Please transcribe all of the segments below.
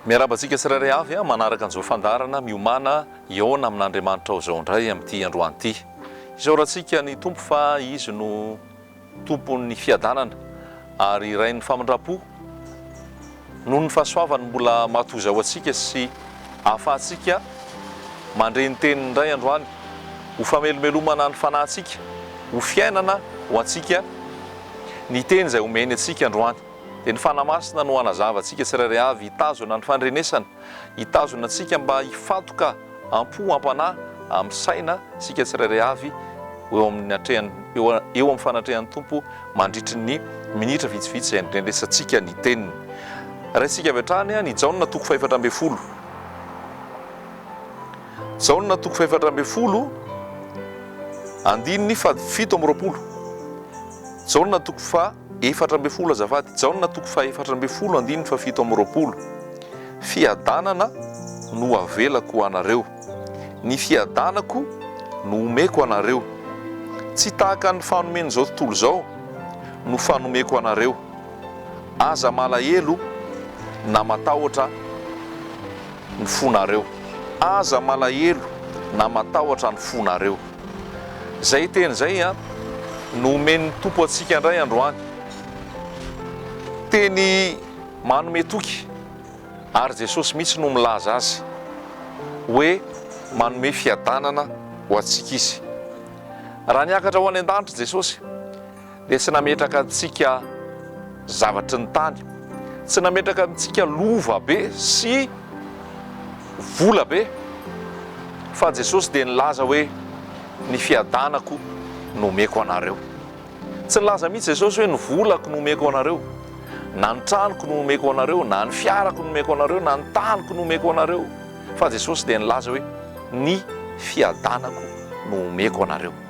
Miarahaba antsika tsirairay avy a, manaraka an'izao fandaharana miomana hihaona amin'Andriamanitra ao izao indray amin'ity androany ity. Isaorantsika ny Tompo fa Izy no Tompon'ny fiadanana ary Rain'ny famindram-po, noho ny fahasoavany mbola matoza ho antsika sy ahafahantsika mandre ny teniny indray androany, ho famelomelomana ny fanahintsika, ho fiainana ho antsika ny teny izay omeny antsika androany. Dia ny Fanahy Masina no hanazava antsika tsirairay avy hitazona ny fandrenesana. Hitazona antsika mba hifantoka am-po am-panahy amin'ny saina isika tsirairay avy eo amin'ny atrehany, eo eo amin'ny fanatrehan'ny Tompo mandritry ny minitra vitsivitsy izay andrenesantsika ny Teniny. Raisintsika avy hatrany an' i Jaona toko fahefatra ambin'ny folo. Jaona toko fahefatra ambin'ny folo andininy fahafito amby roapolo. Jaona toko faha. efatra ambin'ny folo azafady, Jaona toko fahefatra ambin'ny folo andininy fahafito amby roapolo, Fiadanana no avelako ho anareo, ny fiadanako no omeko anareo, tsy tahaka ny fanomen'izao tontolo izao no fanomeko anareo, aza malahelo na matahotra ny fonareo, aza malahelo na matahotra ny fonareo. Izay teny izay no omen'ny Tompo antsika indray androany. Teny manome toky ary Jesosy mihitsy no milaza azy hoe manome fiadanana ho antsika Izy. Raha niakatra ho any an-danitra Jesosy, dia tsy nametraka antsika zavatry ny tany, tsy nametraka amintsika lova be sy vola be, fa Jesosy dia nilaza hoe, Ny fiadanako no omeko anareo. Tsy nilaza mihitsy Jesosy hoe, Ny volako no omeko anareo, na ny tranoko no omeko anareo, na ny fiarako no omeko anareo, na ny taniko no omeko anareo, fa Jesosy dia nilaza hoe, Ny fiadanako no omeko anareo.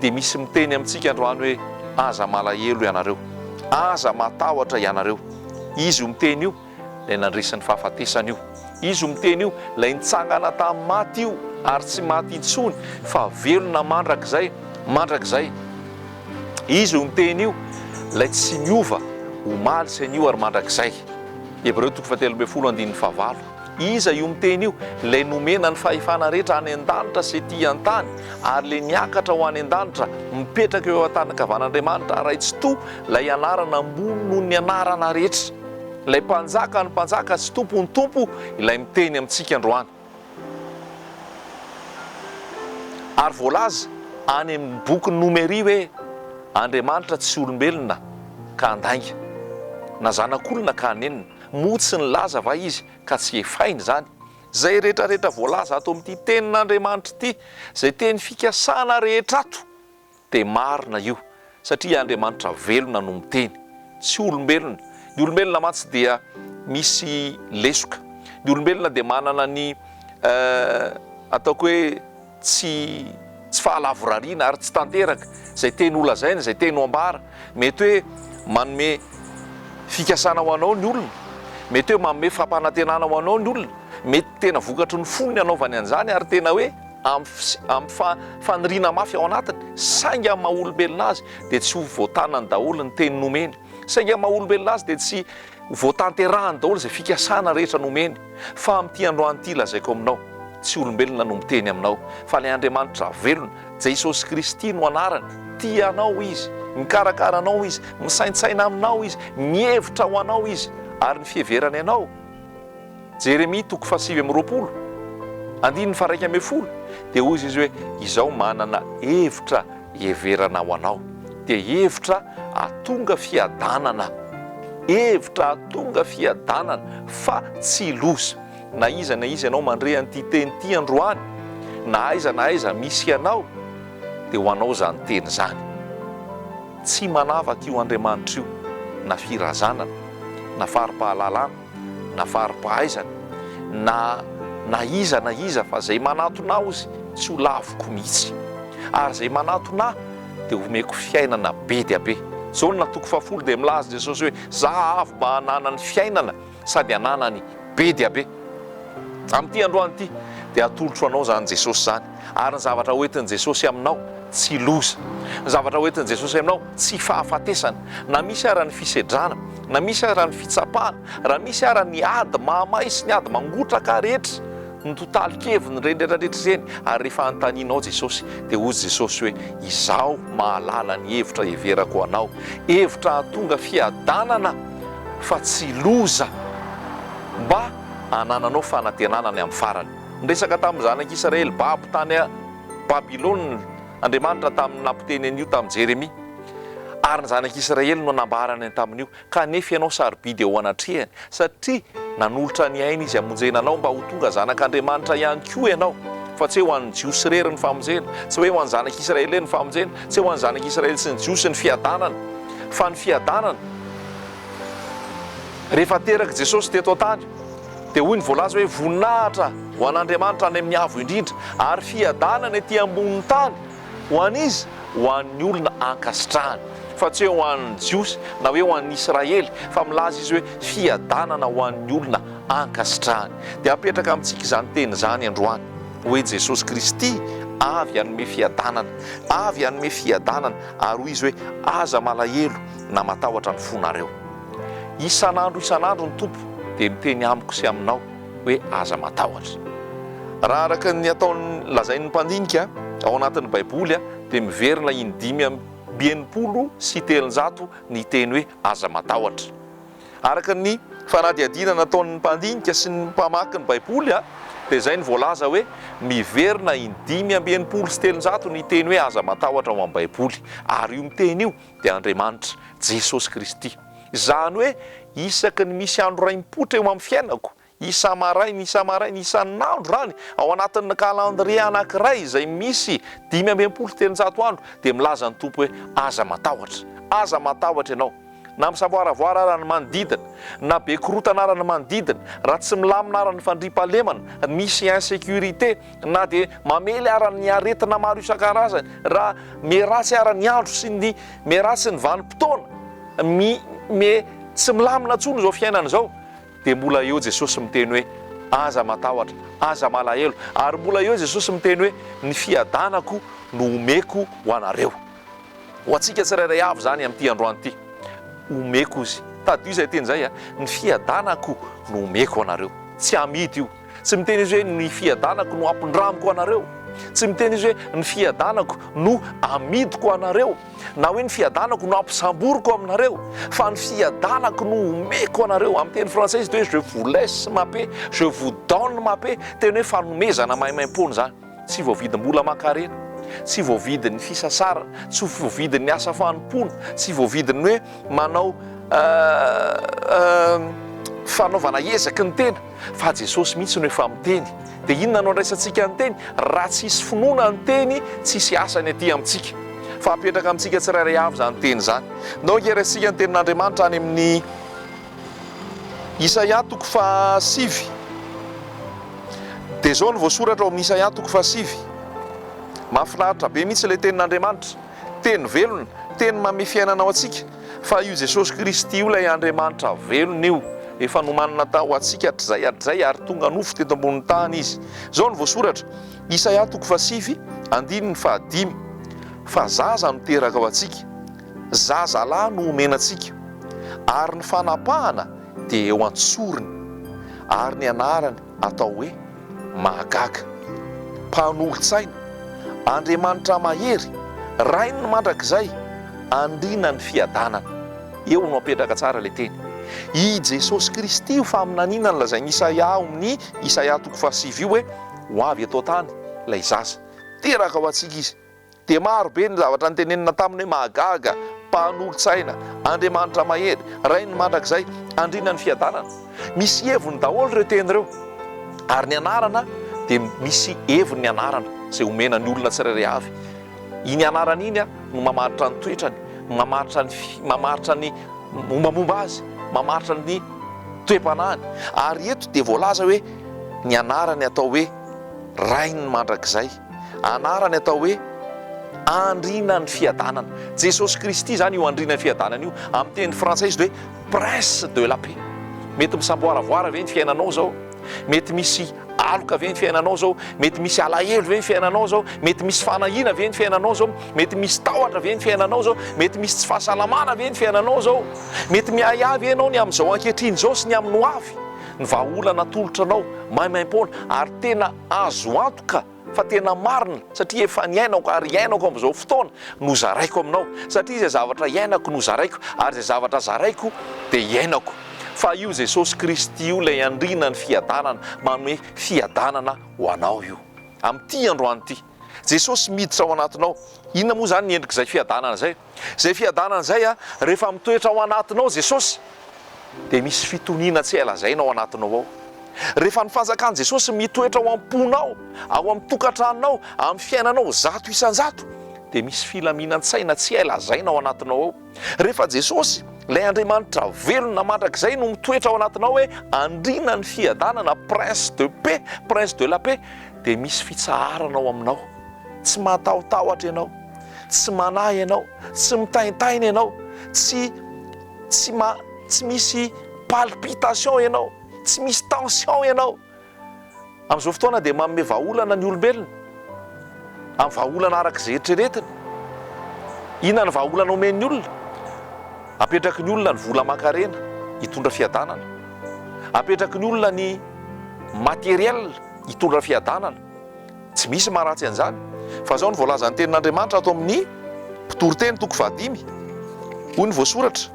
Dia misy miteny amintsika androany hoe, Aza malahelo ianareo. Aza matahotra ianareo. Izy io miteny io, ilay nandresy ny fahafatesana io. Izy io miteny io, ilay nitsangana tamin'ny maty io, ary tsy maty intsony, fa velona mandrakizay, mandrakizay. Izy io miteny io, ilay tsy niova, omaly sy anio ary mandrakizay. Hebreo toko fahatelo ambin'ny folo andininy fahavalo. Iza io miteny io? Ilay nomena ny fahefana rehetra any an-danitra sy ety an-tany, ary ilay miakatra ho any an-danitra, mipetraka eo an-tànankavan'Andriamanitra Ray Tsitoha, ilay anarana ambony noho ny anarana rehetra. Ilay Mpanjakan'ny mpanjaka sy Tompon'ny tompo ilay miteny amintsika androany. Ary voalaza any amin'ny bokin'ny Nomeria hoe, Andriamanitra tsy olombelona ka handainga, na zanak'olona ka hanenina. Moa tsy nilaza va Izy ka tsy hefainy izany? Izay rehetrarehetra voalaza ato amin'ity Tenin'Andriamanitra ity, izay teny fikasana rehetra ato, dia marina io, satria Andriamanitra velona no miteny, tsy olombelona. Ny olombelona mantsy dia misy lesoka. Ny olombelona dia manana ny ataoko hoe. tsy tsy fahalavorariana ary tsy tanteraka izay teny ho lazaina, izay teny ho ambara. Mety hoe manome fikasana ho anao ny olona, mety hoe manome fampanantenana ho anao ny olona, mety tena vokatry ny fony ny hanaovany an'izany ary tena hoe amin'ny amin'ny fa faniriana mafy ao anatiny, saingy amin'ny maha olombelona azy dia tsy ho voatanany daholo ny teny nomeny, saingy amin'ny maha olombelona azy dia tsy Vao tanterahany daholo izay fikasana rehetra nomeny, fa amin'ity androany ity lazaiko aminao, tsy olombelona no miteny aminao, fa ilay Andriamanitra velona, Jesosy Kristy no anarany, tia anao Izy, mikarakara anao Izy, misaintsaina aminao Izy, mihevitra ho anao Izy, ary ny fiheverany anao, Jeremia toko fahasivy amby roapolo, andininy faharaika ambin'ny folo, dia hoy izy hoe, Izaho manana hevitra hiheverana ho anao, dia hevitra hahatonga fiadanana, hevitra hahatonga fiadanana, fa tsy loza. Na iza na iza ianao mandre an'ity teny ity androany, na aiza na aiza misy anao, dia ho anao izany teny izany. Tsy manavaka io Andriamanitra io na firazanana, na fari-pahalalana, na fari-pahaizana, na na iza na iza, fa izay manantona Aho izy tsy ho laviko mihitsy, ary izay manantona Ahy dia homeko fiainana be dia be. Jaona toko fahafolo dia milaza Jesosy hoe, Za avy mba hananany fiainana sady hananany be dia be. Amin'ity androany ity dia atolotro anao izany Jesosy izany. Ary ny zavatra hoentin'i Jesosy aminao, tsy loza. Ny zavatra hoentin'i Jesosy aminao, tsy fahafatesana. Na misy ara ny fisedrana, na misy ara ny fitsapana, raha misy ara ny ady mahamay sy ny ady mangotraka rehetra, ny totalin-keviny, ireny rehetra rehetra ireny, ary rehefa anontanianao Jesosy, dia hoy Jesosy hoe, Izaho mahalala ny hevitra heverako ho anao, hevitra hahatonga fiadanana fa tsy loza, mba hanananao fanantenana any amin'ny farany. Niresaka tamin'ny zanak'Israely babo tany Babylona Andriamanitra tamin'ny nampiteny an'io tamin'i Jeremia. Ary ny zanak'Israely no nambarany ny tamin'io, Kanefa ianao sarobidy eo anatrehany, satria nanolotra ny ainy izy hamonjena anao, mba ho tonga zanak'Andriamanitra ihany koa ianao, fa tsy ho an'ny Jiosy irery ny famonjena, tsy hoe ho an'ny zanak'Israely irery ny famonjena, tsy ho an'ny zanak'Israely sy ny Jiosy ny fiadanana, fa ny fiadanana rehefa terak'i Jesosy teto an-tany. Dia hoy ny voalaza hoe, Voninahitra ho an'Andriamanitra any amin'ny Avo Indrindra, ary fiadanana ety ambonin'ny tany ho an'iza? Ho an'ny olona ankasitrahany. Fa tsy hoe ho an'ny Jiosy, na hoe ho an'ny Israely, fa milaza izy hoe, Fiadanana ho an'ny olona ankasitrahany. Dia apetraka amintsika izany teny izany androany, hoe Jesosy Kristy avy hanome fiadanana, avy hanome fiadanana, ary hoy Izy hoe, Aza malahelo na matahotra ny fonareo. Isan'andro isan'andro ny Tompo dia miteny amiko sy aminao hoe aza matahotra. Raha araka ny ataon'ny lazain'ny mpandinika ao anatin'ny Baiboly dia miverina in dimy amby enimpolo sy telonjato ny teny hoe aza matahotra. Araka ny fanadihadiana nataon'ny mpandinika sy ny mpamaky ny Baiboly dia izay no voalaza hoe miverina in dimy amby enimpolo sy telonjato ny teny hoe aza matahotra ao amin'ny Baiboly ary io miteny io dia Andriamanitra, Jesosy Kristy. Izany hoe isaky ny misy andro raim-poitra eo amin'ny fiainako, isa-maraina, isa-maraina, isan'andro izany, ao anatin'ny kalandrie anankiray izay misy dimy amby enimpolo sy telonjato andro, dia milaza ny Tompo hoe, Aza matahotra. Aza matahotra ianao. Na misavoaravoara ara ny manodidina, na be korontana ara ny manodidina, raha tsy milamina ara ny fandriampahalemana, misy insécurité, Na dia mamely ara ny aretina maro isan-karazany, ra me ratsy ara ny andro sy ny me ratsy ny vanim-potoana, mi me tsy milamina intsony izao fiainana izao, dia mbola eo Jesosy miteny hoe, Aza matahotra, aza malahelo. Ary mbola eo Jesosy miteny hoe, Ny fiadanako no omeko ho anareo. Ho antsika tsirairay avy izany amin'ity androany ity. Omeko izy. Tadidio izay teny izay, Ny fiadanako no omeko ho anareo. Tsy amidy io. Tsy miteny izy hoe, Ny fiadanako no ampindramiko anareo. Tsy miteny izy hoe, Ny fiadanako no amidiko anareo, na hoe, Ny fiadanako no ampisamboriko aminareo. Fa, Ny fiadanako no omeko anareo. Amin'ny teny frantsay izy dia hoe, Je vous laisse ma paix, je vous donne ma paix. Teny hoe fanomezana maimaim-poana izany. Tsy voavidim-bola aman-karena, tsy voavidin'ny fisasarana, tsy voavidin'ny asa fanompoana, tsy voavidin'ny hoe manao fanaovana ezaky ny tena, fa Jesosy mihitsy no efa miteny. Dia inona no andraisantsika ny teny? Raha tsy hisy finoana ny teny, tsy hisy asany aty amintsika. Fa hapetraka amintsika tsirairay avy izany teny izany. Ndao ange raisintsika ny tenin'Andriamanitra any amin'ny. Isaia toko faha sivy, dia izao no voasoratra ao amin'ny Isaia toko faha sivy, mahafinaritra be mihitsy ilay tenin'Andriamanitra, teny velona, teny manome fiainana ho antsika, fa io Jesosy Kristy io ilay Andriamanitra velona io, efa nomanina tao ho antsika hatrizay hatrizay ary tonga nofo teto ambonin'ny tany Izy. Izao no voasoratra, Isaia toko faha sivy, andininy faha dimy, Fa zaza no teraka ho antsika, Zaza lahy no omena antsika, ary ny fanapahana dia eo an-tsorony, ary ny anarany atao hoe Mahagaga, Mpanolotsaina, Andriamanitra Mahery, Rain'ny Mandrakizay, Andrinan'ny Fiadanana. Eo no apetraka tsara ilay teny. I Jesosy Kristy io faminaniana nolazain'i Isaia ao amin'ny Isaia toko fahasivy io hoe ho avy eto an-tany ilay zaza. Teraka ho antsika izy. Dia maro be ny zavatra nitenenina taminy hoe mahagaga, mpanolotsaina, Andriamanitra mahery, Rain'ny mandrakizay, Andriana ny fiadanana. Misy heviny daholo ireo teny ireo. Ary ny anarana dia misy heviny ny anarana izay omena ny olona tsirairay avy. Iny anarana iny no mamaritra ny toetrany, mamaritra ny mamaritra ny mombamomba azy, mamaritra ny toe-panahiny. Ary eto dia voalaza hoe ny anarany atao hoe Rain'ny mandrakizay. Anarany atao hoe andrianan'ny fiadanana. Jesosy Kristy izany io andrianan'ny fiadanana io. Amin'ny teny frantsay izy hoe prince de la paix. Mety misamboaravoara ve ny fiainanao izao? Mety misy aloka ve ny fiainanao izao? Mety misy alahelo ve ny fiainanao izao? Mety misy fanahiana ve ny fiainanao izao? Mety misy tahotra ve ny fiainanao izao? Mety misy tsy fahasalamana ve ny fiainanao izao? Mety miahiahy ve ianao ny amin'izao ankehitriny izao sy ny amin'ny hoavy? Ny vahaolana atolotra anao maimaim-poana ary tena Azo antoka fa tena marina satria efa niainako ary iainako amin'izao fotoana no zaraiko aminao satria izay zavatra iainako no zaraiko ary izay zavatra zaraiko dia iainako fa io Jesosy Kristy io ilay andriana ny fiadanana manome fiadanana ho anao io amin'ity androany ity Jesosy miditra ao anatinao inona moa izany ny endrik'izay fiadanana izay Izay fiadanana izay a, rehefa mitoetra ao anatinao Jesosy dia misy fitoniana tsy hay lazaina ao anatinao ao. Rehefa ny fanjakan'i Jesosy mitoetra ao am-ponao, ao amin'ny tokantranonao, amin'ny fiainanao zato isan-jato dia misy filaminan-tsaina tsy hay lazaina ao anatinao ao. Rehefa Jesosy, ilay Andriamanitra velona mandrakizay no mitoetra ao anatinao hoe Andriana ny fiadanana, Prince de paix, Prince de la paix dia misy fitsaharana ao aminao. Tsy matahotahotra ianao, tsy manahy ianao, tsy mitaintaina ianao, tsy, tsy ma, tsy misy palpitation ianao, tsy misy tension ianao. Amin'izao fotoana dia manome vahaolana ny olombelona, amin'ny vahaolana araka izay eritreretiny. Inona ny vahaolana omen'ny olona? Apetraky ny olona ny vola aman-karena hitondra fiadanana. Apetraky ny olona ny matériel hitondra fiadanana. Tsy misy maharatsy an'izany, fa izao no voalazan'ny Tenin'Andriamanitra ato amin'ny Mpitoriteny toko fahadimy, hoy ny voasoratra.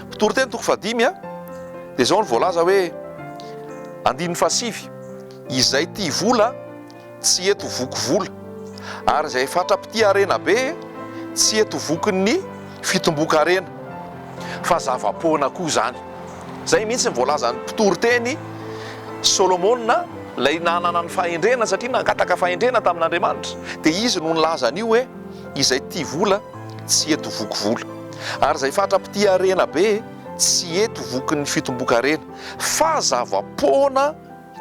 Mpitoriteny toko fahadimy a, dia izao no voalaza hoe, andininy fahasivy, Izay tia vola tsy hety ho voky vola, ary izay fatra-pitia harena be tsy hety ho vokin'ny fitomboan-karena. Fa zava-poana koa izany. Izay mihitsy no voalazan'ny mpitory teny Solomona, ilay nanana ny fahendrena satria nangataka fahendrena tamin'Andriamanitra, dia izy no nilaza an'io hoe, Izay tia vola, tsy hety voky vola, ary izay fatra-pitia harena be, tsy hety voky ny fitomboan-karena, fa zava-poana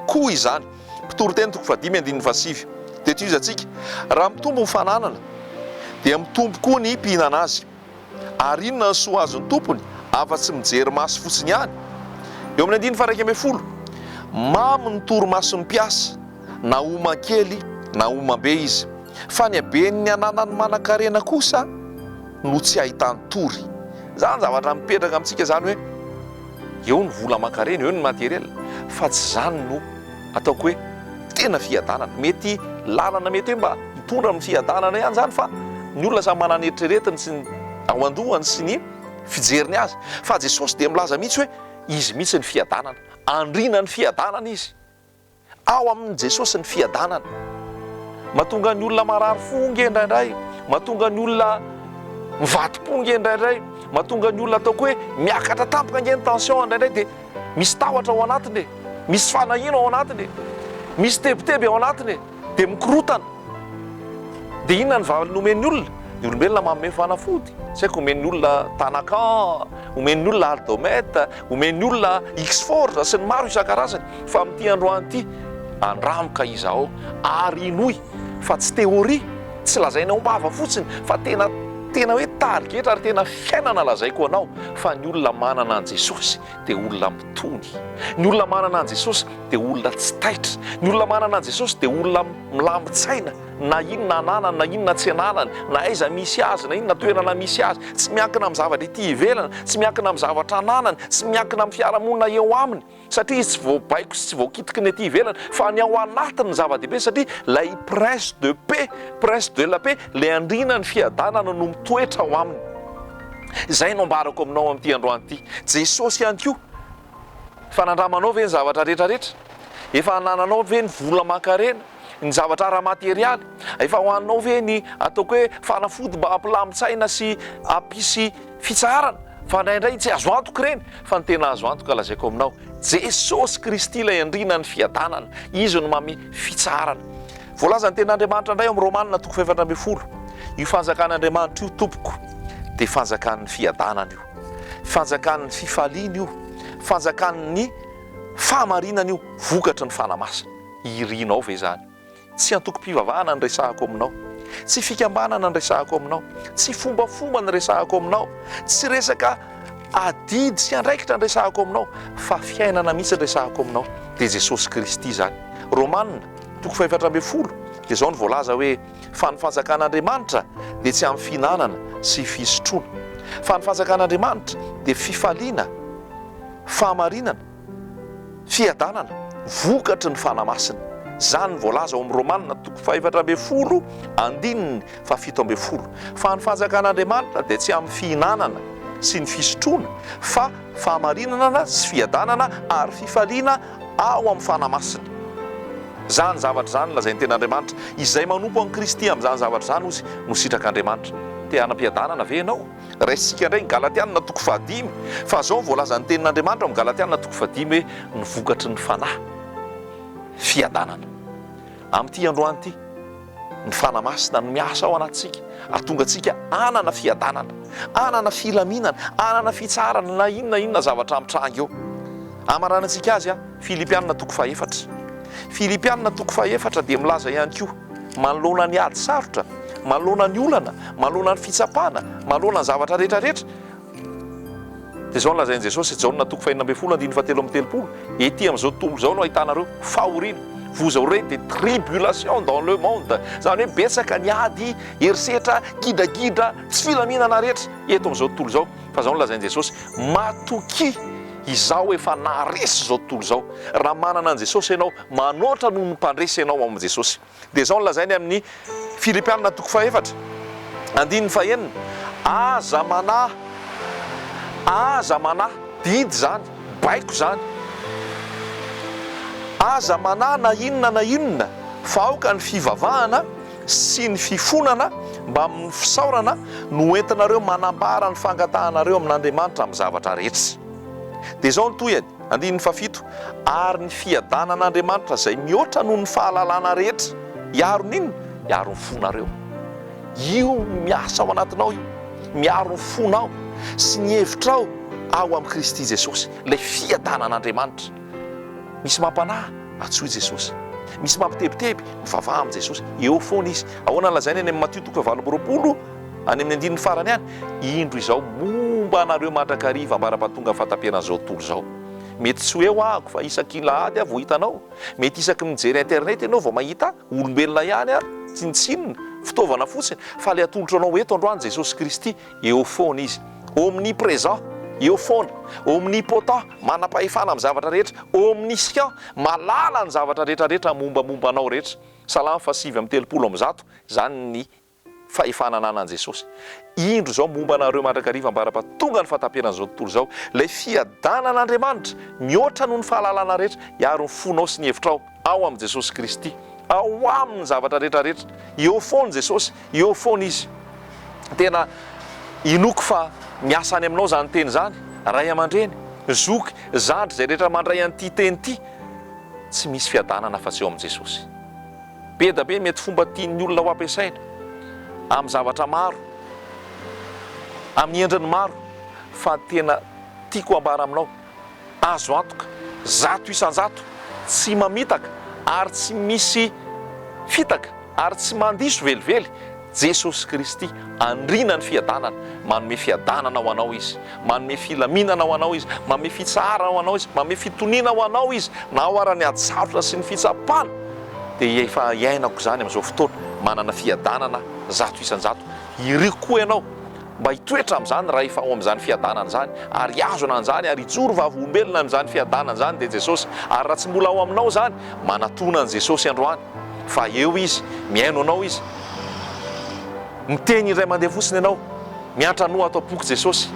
koa izany. Mpitory teny toko fahadimy andininy fahasivy. Dia tohizatsika, Raha mitombo ny fananana, dia mitombo koa ny mpihinana azy. Ary inona ny soa azon'ny tompony afa-tsy mijery maso fotsiny ihany? Eo amin'ny andininy faha-iraika ambin'ny folo, Mamy ny torimason'ny mpiasa, na homan-kely na homan-be izy, fa ny haben'ny ananan'ny manan-karena kosa no tsy ahitany tory. Izany zavatra mipetraka amintsika izany hoe eo ny vola aman-karena, eo ny materiel, fa tsy izany no. ataoko hoe tena fiadanana. Mety lalana mety hoe mba hitondra amin'ny fiadanana ihany izany fa ny olona samy manana ny eritreretiny sy ny ao an-dohany sy ny fijeriny azy. Fa Jesosy dia milaza mihitsy hoe Izy mihitsy ny fiadanana. Andriana ny fiadanana Izy. Ao amin'i Jesosy ny fiadanana. Mahatonga ny olona marary fo nge indraindray, mahatonga ny olona mivadi-po nge indraindray, mahatonga ny olona ataoko hoe miakatra tampoka nge ny tension indraindray dia misy tahotra ao anatiny e, misy fanahiana ao anatiny e, misy tebiteby ao anatiny e, dia mikorotana. Dia inona ny valiny omen'ny olona? Ny olombelona manome fanafody, tsy haiko omen'ny olona Tanacan, omen'ny olona Aldomet, omen'ny olona X-Force sy ny maro isan-karazany fa amin'ity androany ity, andramoka izaho ary hinoy. fa tsy théorie, tsy lazaina ao am-bava fotsiny fa tena tena hoe tarigetra ary tena fiainana lazaiko anao fa ny olona manana an'i Jesosy dia olona mitony, ny olona manana an'i Jesosy dia olona tsy taitra, ny olona manana an'i Jesosy dia olona milamin-tsaina na inona ananany na inona tsy ananany, na aiza misy azy na inona toerana misy azy, tsy miankina amin'ny zavatra ety ivelany, tsy miankina amin'ny zavatra ananany, tsy miankina amin'ny fiarahamonina eo aminy. satria izy tsy voabaiko sy tsy voakitiky ny aty ivelany fa ny ao anatiny zava-dehibe satria ilay prince de paix, prince de la paix, ilay andriana ny fiadanana no mitoetra ao aminy. Izay no ambarako aminao amin'ity androany ity. Jesosy ihany koa. Fa nandramanao ve ny zavatra rehetra rehetra? Efa anananao ve ny vola aman-karena? ny zavatra ara-materialy. Efa ho anao ve ny ataoko hoe fanafody mba hampilamin-tsaina sy hampisy fitsaharana? Fa indraindray tsy azo antoka ireny, fa ny tena azo antoka lazaiko aminao, Jesosy Kristy ilay Andriana ny fiadanana, Izy no mamy fitsaharana. Voalazan' ny Tenin'Andriamanitra indray ao amin'ny Romana toko fahefatra ambin'ny folo, io fanjakan' Andriamanitra io tompoko dia fanjakan'ny fiadanana io, fanjakan'ny fifaliana io, fanjakan'ny fahamarinana io, vokatry ny Fanahy Masina. Irinao ve izany? Tsy antokom-pivavahana ny resahako aminao. Tsy fikambanana ny resahako aminao. Tsy fombafomba ny resahako aminao. Tsy resaka adidy sy andraikitra ny resahako aminao, fa fiainana mihitsy ny resahako aminao, dia Jesosy Kristy izany. Romana, toko fahefatra ambin'ny folo, dia izao no voalaza hoe, Fa ny fanjakan'Andriamanitra dia tsy amin'ny fihinanana sy fisotroana, fa ny fanjakan'Andriamanitra dia fifaliana, fahamarinana, Fiadanana, vokatry ny Fanahy Masina. Izany no voalaza ao amin'ny Romana toko fahefatra ambin'ny folo andininy fahafito ambin'ny folo, fa ny fanjakan'Andriamanitra dia tsy amin'ny fihinanana sy ny fisotroana, fa fahamarinanana sy fiadanana ary fifaliana ao amin'ny Fanahy Masina. Izany zavatra izany no lazain'ny Tenin'Andriamanitra. Izay manompo an'i Kristy amin'izany zavatra izany, hozy, no sitrak'Andriamanitra. Te hanam-piadanana ve ianao? Raisintsika indray ny Galatiana toko fahadimy, fa izao no voalazan'ny Tenin'Andriamanitra ao amin'ny Galatiana toko fahadimy hoe, Ny vokatry ny fanahy, fiadanana. Amin'ity androany ity, ny Fanahy Masina no miasa ao anatintsika, hahatonga antsika hanana fiadanana, hanana filaminana, hanana fitsaharana na inona na inona zavatra mitranga eo. Hamaranantsika azy, Filipiana toko fahefatra. Filipiana toko fahefatra dia milaza ihany koa, Manoloana ny ady sarotra, manoloana ny olana, manoloana ny fitsapana, manoloana ny zavatra rehetra rehetra, dia izao no lazain'i Jesosy, Jaona toko fahenina ambin'ny folo andininy fahatelo amby telopolo, Ety amin'izao tontolo izao no ahitanareo fahoriana, vous aurez des tribulations dans le monde, izany hoe betsaka ny ady, herisetra, gidragidra, tsy filaminana rehetra eto amin'izao tontolo izao, fa izao no lazain'i Jesosy, matokia, izaho efa naharesy izao tontolo izao. Raha manana an'i Jesosy ianao, Manoatra noho ny mpandresy ianao ao amin'i Jesosy. Dia izao no lazainy amin'ny Filipiana toko fahefatra, andininy fahenina, Aza manahy, aza manahy, didy izany, baiko izany, aza manahy na inona na inona, fa aoka ny fivavahana sy ny fifonana mbamin'ny fisaorana no hoentinareo manambara ny fangatahanareo amin'Andriamanitra amin'ny zavatra rehetra. Dia izao ny tohiny, Andininy fahafito, Ary ny fiadanan'Andriamanitra izay mihoatra noho ny fahalalana rehetra hiaro ny inona? Hiaro ny fonareo. Io miasa ao anatinao io, miaro ny fonao sy ny hevitrao ao amin'i Kristy Jesosy, ilay fiadanan'Andriamanitra. Misy mampanahy? Antsoy Jesosy. Misy mampitebiteby? Mivavaha amin'i Jesosy. Eo foana Izy. Ahoana no lazainy any amin'ny Matio toko fahavalo amby roapolo? Any amin'ny andininy farany any, indro izao, momba anareo mandrakariva ambarapatonga ny fahataperan'izao tontolo izao. Mety tsy hoe ho'aho fa isakin'lahady aho vao hita anao, mety isaky ny mijery internet ianao vao mahita ahy, olombelona ihany aho, tsinontsinona, fitaovana fotsiny, fa ilay atolotro anao eto androany Jesosy Kristy, eo foana Izy. Omnipresent, eo foana. Omnipotent, manam-pahefana amin'ny zavatra rehetra. Omniscient, mahalala ny zavatra rehetrarehetra mombamomba anao rehetra. Salamo fahasivy amby telopolo amby zato, izany ny fahefana ananan'i Jesosy. Indro izao momba anareo mandrakariva ambara-pa tonga ny fahataperan'izao tontolo izao, ilay fiadanan'Andriamanitra mihoatra noho ny fahalalana rehetra, hiaro ny fonao sy ny hevitrao ao amin'i Jesosy Kristy. Ao Aminy ny zavatra rehetra rehetra. Eo foana Jesosy, eo foana Izy. Tena inoako fa miasa any aminao izany teny izany, ray aman-dreny, zoky, zandry, izay rehetra mandray an'ity teny ity. Tsy misy fiadanana afa-tsy eo amin'i Jesosy. Be da be mety fomba tian'ny olona ho ampiasaina amin'ny zavatra maro, amin'ny endriny maro fa ny tena tiako ambara aminao, azo antoka zato isan-jato tsy mamitaka ary tsy misy fitaka ary tsy mandiso velively Jesosy Kristy, Andriana ny fiadanana, manome fiadanana ho anao Izy, manome filaminana ho anao Izy, manome fitsaharana ho anao Izy, manome fitoniana ho anao Izy, na ao ara ny hajafona sy ny fitsapana, dia efa iainako izany amin'izao fotoana, manana fiadanana zato isan-jato, iriko koa ianao mba hitoetra amin'izany rahefa ao amin'izany fiadanana izany, ary hihazona an'izany ary hijoro vavolombelona amin'izany fiadanana izany dia Jesosy, ary raha tsy mbola ao aminao izany, manatona an'i Jesosy androany. Fa eo Izy, mihaino anao Izy. Miteny indray mandeha fotsiny ianao, miantranoa ato am-poko Jesosy.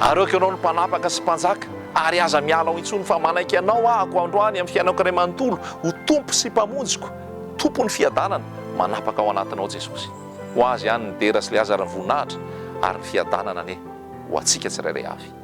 Areoko Ianao no Mpanapaka sy Mpanjaka, ary aza miala ao intsony, fa manaiky Anao ahako androany amin'ny fiainako iray manontolo, ho Tompo sy Mpamonjiko, Tompon'ny fiadanana, manapaka ao anatinao Jesosy. Ho Azy ihany ny dera sy Lazara ny voninahitra ary ny fiadanana anie ho antsika tsirairay avy.